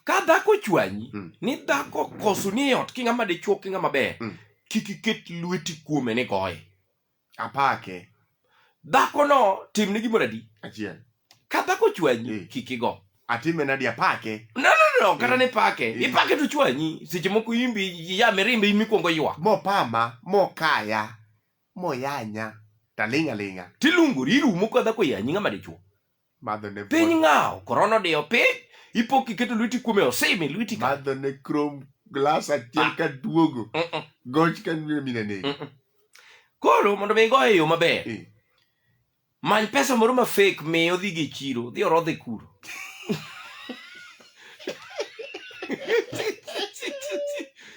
ka dhako ochwanyi Mm. ni dhako koso ni e ot ki ng'ama dichuo ki ng'ama ber Mm. kik iket lweti kuome ni goye apake dhakono timne gimoro adi achiel ka dhako ochwanyi Mm. kik igo atime nadi apake no no no kata Mm. ni pake Mm. ipake to chwanyi seche moko imbi ya mirimbe in mikwongo ywak mopama mokaya moyanya taling' aling'a tiluongori irumo ka dhako yanyi ng'ama dichuo madho ne piny pon- ng'aw korona odiyo piny ipo kiketo lweti kuome osimi lweti ka madho ne krom glas achiel ka duogo Mm-mm, goch ka nyo mina ne mm-mm. koro mondo mi igoye e yo maber Eh. many pesa moro ma fake mi odhi gi chiro dhi orodhe kuro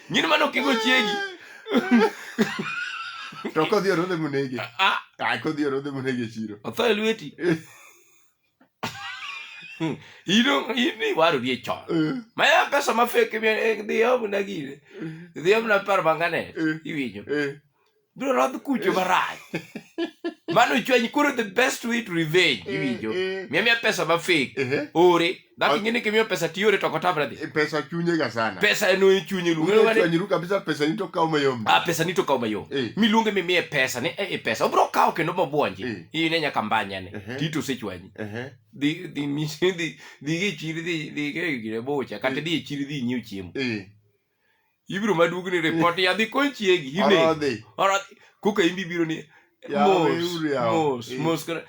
nyini mano kigo chiegi to kodhi orodhe monege Ah, ah, kodhi orodhe monege e chiro otho e lweti ino ini warori e chon Eh, maya pesa mafek dhiyo mna gire dhiyo mna par bangane eh, iwinjo eh. biro rodh kucho marach mano chweny koro the best way to revenge eh, iwinjo eh. miya miya pesa ma fake eh. ore dhako ing'e ni kimiyo pesa tiore to kotamra dhi pesa chunye ga sana pesa no e chunye luongeru kabisa pesa ni to kawo mayom ah pesa ni to kawo mayom miluonge mi miye pesa ni e pesa obro kawo kendo mobwonji in e nyaka mbanya ne tito sechwanyi dhi dhi misi dhi dhi gi chiri dhi dhi ke gire bocha kata dhi chiri dhi nyiu chiemo ibiro maduogni report ya dhi kony chiegi hine Orodhi. orodhi koka imbi biro ni Yaw mos weuru yaw. mos Eh. mos kana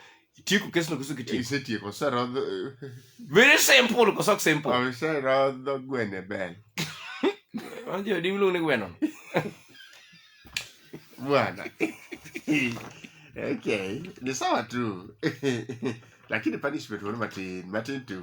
tieko kesno koso kitieko Isetieko, oserodho very simple koso ok simple oserodho gwene bel. anjo di miluongo ni gweno Bwana. okay, ni sawa tu. Lakini punishment wani matin, matin tu.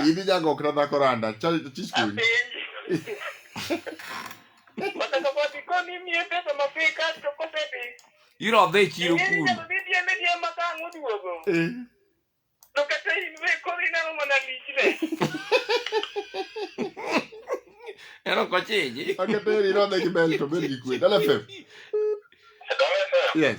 Idhi jagok na dhako randa. Chich kuny. Iro dhi chiro kuno. Eh. To kata in be koro ineno mana lichne. Ero kochiji. Akateri iro dhi gi bel to bel gi kwe. Dala fem. Dala fem. Yes.